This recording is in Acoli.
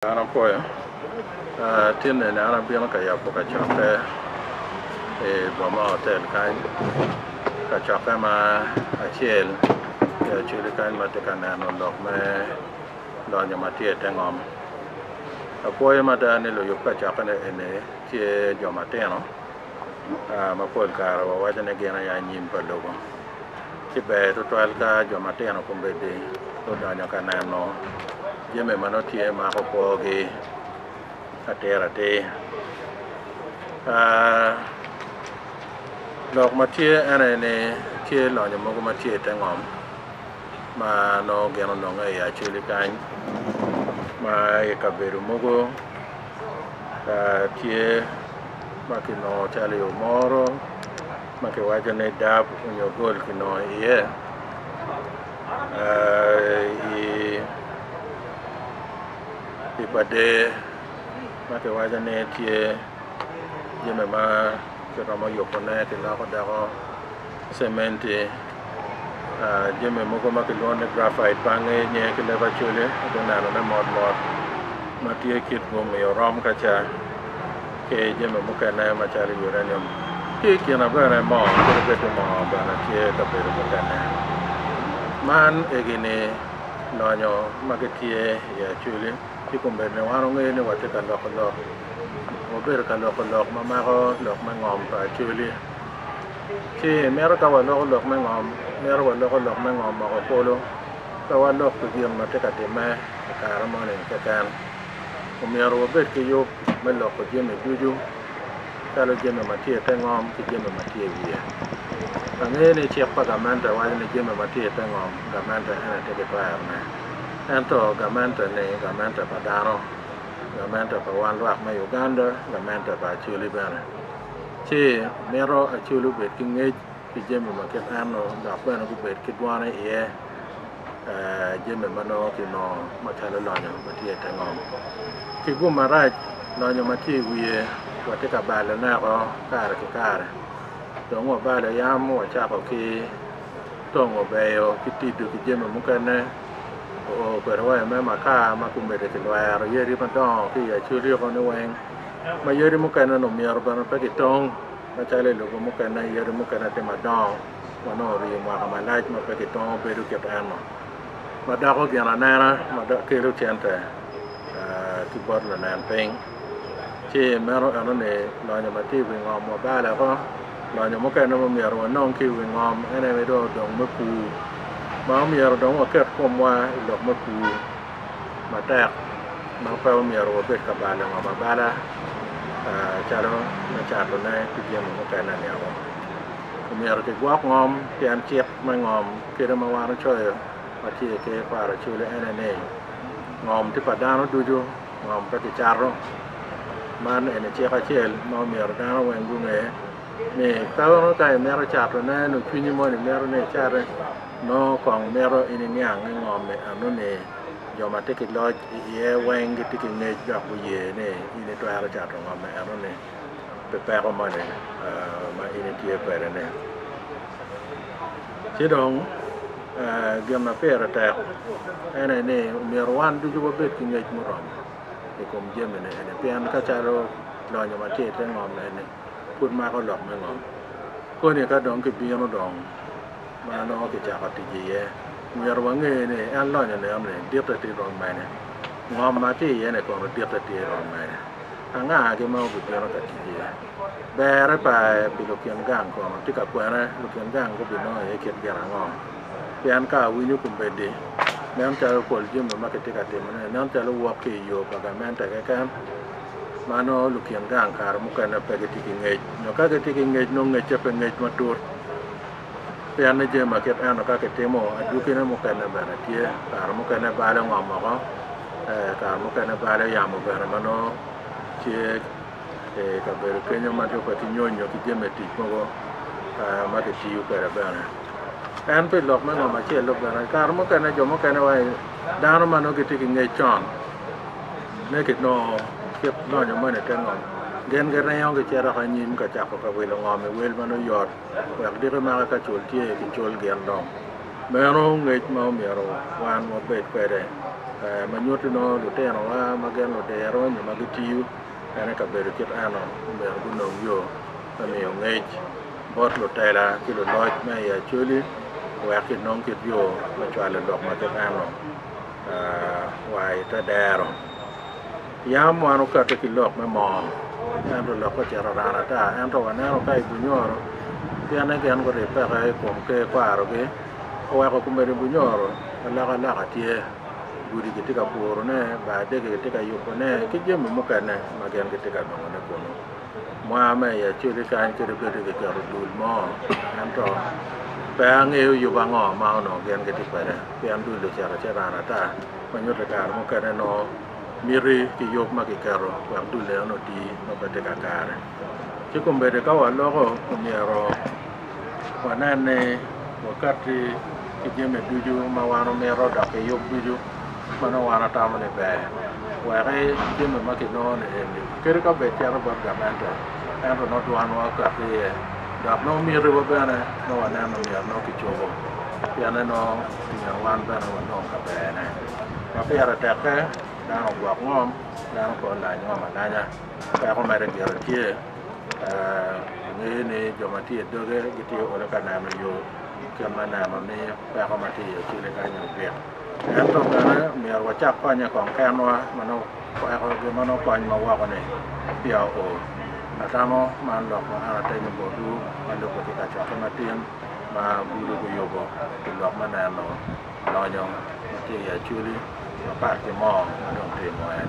An apoyo tin eni an abino ka yabo kacokke i boma hotel kany, kacokke ma acel i Acholi kany ma atye ka neno lok me lonyo ma tye i te ngom. Apwoyo mada ni luyub kacokke eni tye jo matino. ma pol kare wawaco ni gin aye anyim pa lobo. Ci ber tutwal ka jo matino kombeddi gudonyo ka neno jami ma nongo tye mako kwogi atir atir. Aa, lok ma tye en aye ni tye lonyo mogo ma tye i te ngom ma nongo gin ononge i Acoli kany ma i kabedo mogo tye ma kinongo calo i omoro ma kiwaco ni dab nyo gol kinongo iye i pa der ma kiwaco ni tye jami ma kiromo yubone kiloko doko cementi, jami mogo ma kilwongo ni graphite bange nye ki leb acolya ado neno ne mot mot ma tye kit bumi orom ka ca ki jami mukene ma calo uranium ki i kina bene moo kadi bed ni moo bene tye i kabedo mukene man egi ni lonyo ma gi tye i acoli ci kombeddi ni wan wangeyo ni watye ka loko lok wabedo ka loko lok ma mako lok me ngom pa acoli Ci, mito ka waloko lok me ngom, mito waloko lok me ngom moko kulu, pe walok pi gin ma tye ka timme i kare moni keken. Omyero wabed ki yub me loko jami ducu, calo jami ma tye i te ngom ki jami ma tye i wiye. Angeyo ni cik pa gamente waco ni jami ma tye i te ngom, gamente en aye tye ki twerone. Ento gamente-ni, gamente pa dano, gamente pa wan lwak me Uganda, gamente pa Acholi bene. Ci mito acol obed ki ngec pi jami ma kit enno dok bene gubed ki dwane iye jami ma nongo kinongo macalo lonyo ma tye i te ngom ki gum marac lonyo ma tye i wiye watye ka balone oko kare ki kare dong wabalo yam wacako ki tongo beyo ki tido ki jami mukene oo kwede wa i me makar ma kumede kilwero yadi madongo ki i acoli oko ni weng ma yadi mukene-ni omyero bene pe kitong macalo i lobo mukene, yadi mukene tye madongo ma nongo orii mwaka malac ma pe kitongo bedo kit eno ma doko gin anena ma kelo cente ki bot lunen piny, ci meno enoni lonyo ma tye i wi ngom wa bale ko, lonyo mukene ma myero wanong ki i wi ngom ene ni dong odong me pur ma omyero dong waket komwa i lok me pur. matek ma pe omyero wabed ka balo ngom abala calo me catone ki jami mukene ni o. Omyero kigwok ngom pien cik me ngom kite ma wan ocoyo ma tye i Ker pa Araceli ene ni ngom tye pa dano ducu ngom pe kicato. Man eni cik acel ma omyero dano weng gunge ni ka imito catone nyo cwinyi moni mito ni icate Nongo kong mito in iniang ni ngom me eno ni jo ma tye ki loc i iye weng gitye ki ngec dok guye ni in itwero cato ngom me eno ni pi peko moni ma in itye kwede ni. Ci dong gin ma pire tek en aye ni myero wan ducu wabed ki ngec muromo i kom jami ni eni pien ka calo lonyo ma tye ite ngom eni pud mako lok me ngom koni ka dong ki bino dong. ma nongo kicako tic iye. Myero wange ni en lonyo neno ni ditte tye rom mene. Ngom ma tye iye-ni kono ditte tye rom mene? Angagi ma obibino ka tic iye? Berre pa pi lukin gang kono tye ka kwene lukin gang gubinongo iye kit gin ango? Pien ka awinyo kombeddi, nen calo pol jami ma kitye ka timone-ni nen calo wok ki i yo pa gamente keken ma nongo lukin gang kare mukene pe gitye ki ngec nyo ka gitye ki ngec nongo ngecce pe ngec matut. Pien ni jami ma kit eno ka kitimo, adwogine mukene bene tye. Kare mukene bale ongom oko, kare mukene bale yamo bene ma nongo tye i kabedo kenyo ma dong pe kinyonyo ki jami me tic mogo ma kitiyo kwede bene. En pi lok me ngom acel-lu bene, kare mukene jo mukene wa i dano ma nongo gitye ki ngec con me kinongo kit lonyo meno i te ngom, gin giringo gicito ki anyim ka cako ka wilo ngom i wel ma nongo yot. wek diki maka ka cul tye ki cul gin dong meno ngec ma omyero wan wabed kwede ma nyuti nongo lutinowa ma gin ludiro nyo ma gitiyo bene i kabedo kit eno omyero gunong yo me miyo ngec bot lutela ki luloc ma i Acholi wek ki nong kit yo me cwalo lok ma kit eno wa ite dero. Yam wan okate ki lok me moo, ento lokke ocito rano ata. Ento waneno ka i bunyoro, pienne gin guribbeke i kom ker kwarogi, oweko kumedo i bunyoro, alokaloka tye, gudi kitye ka purone, bar dege kitye ka yubone, ki jami mukene ma gin gitye ka nongone kunu. Mwa me i Acholi kany kit obedo kiketo dul mo, ento pe angeyo yub ango ma onongo gin gitye kwede, pien dul-li ocito acita rano ata, ma nyuto i kare mukene nongo. miti ki yub ma kiketo wek dul enoni oti ma pe tye kakare. Ci kombeddi ka waloko omyero wanen ni wakatti ki jami ducu ma wan omito dok ki yub ducu ma nongo wan watamo ni ber weki jami ma kinongo ni eni kadi ka bed cito bot gamente ento nongo dwanwa okati iye dok nongo mitiwa bene nongo waneno myero nongo kicobo pienne nongo omyero wan bene wanong kaberne. ma pire tekke dano ogwok ngom, dano pe olany ngom alanya, peko mere gire tye ni jo ma tye i doge gitye ka olo ka neno yo ki kit me neno ni peko ma tye i Acoli kany ogik. Ento bene myero wacak konye kong kenwa ma nongo peko gin ma nongo kony ma woko-ni peya oo. Atamo man lok ma an atenyo botwu ma lubbe ki kacokke matin ma bulu guyubo pi lok me neno Lonyo ma tye i Acholi mapat ki moo ma dong tye i moyane.